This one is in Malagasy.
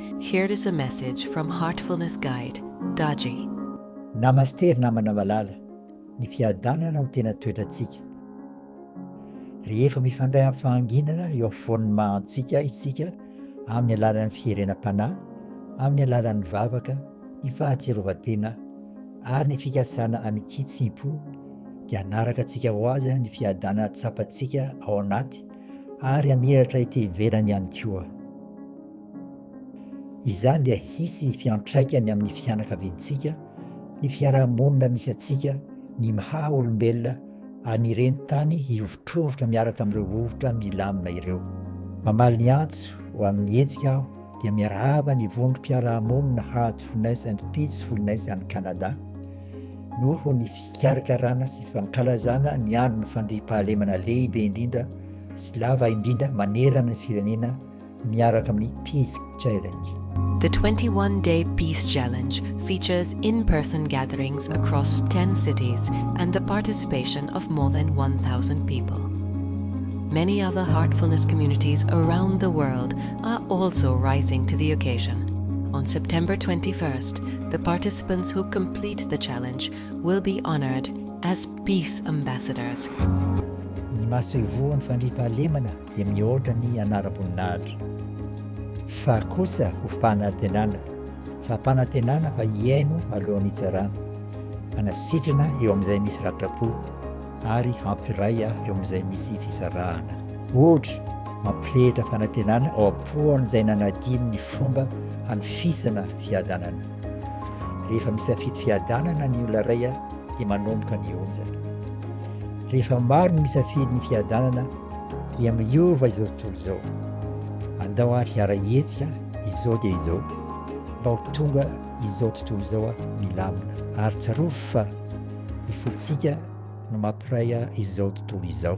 Here is a message from Heartfulness Guide, Daji. Namasté ry namana malala, ny fiadanana no tena toetrantsika. Rehefa mifandray amin'ny fahanginana eo afovoan'ny maha antsika isika amin'ny alalan'ny fiherenam-panahy, amin'ny alalan'ny vavaka, ny fahatsiarovan-tena ary ny fikasana amin-kitsimpo dia hanaraka antsika ho azy ny fiadanana tsapantsika ao anaty ary hamiratra ety ivelany ihany koa. Izany dia hisy fiantraikany amin'ny fianakaviantsika, ny fiarahamonina misy antsika, ny mha olombelona ary ny reni-tany hihovitrovitra miaraka amin'ireo vovotra milamina ireo. Mamaly ny antso ho amin'ny hetsika aho. dia miarahaba ny vondrom-piarahamonina Heartfulness and Peacefulness any Canada noho ny fikarakarana sy fankalazana ny andron'ny fandriampahalemana lehibe indrindra sy lava indrindra manerana ny firenena miaraka amin'ny Peace Challenge. The 21-day Peace Challenge features in-person gatherings across 10 cities and the participation of more than 1,000 people. Many other heartfulness communities around the world are also rising to the occasion. On September twenty first, the participants who complete the challenge will be honored as Peace Ambassadors. Ny masoivohon'ny fandriampahalemana dia mihoatra ny anaram-boninahitra. Fa kosa ho fanantenana, fampanantenana fa hihaino alohan'ny hitsarana, hanasitrana eo amin'izay misy ratra-po. ary hampiray ahy eo amin'izay misy fisarahana. Ohatra, mampirehitra fanantenana ao am-pon'izay nanadino ny fomba hanofisana fiadanana. Rehefa misafidy fiadanana ny olona iray dia manomboka ny onjany. Rehefa maro ny misafidy ny fiadanana dia miova izao tontolo izao. Andao ary hiara-hihetsika izao dia izao mba ho tonga izao tontolo izao milamina ary tsarovy fa ny fontsika no mampiray izao tontolo izao.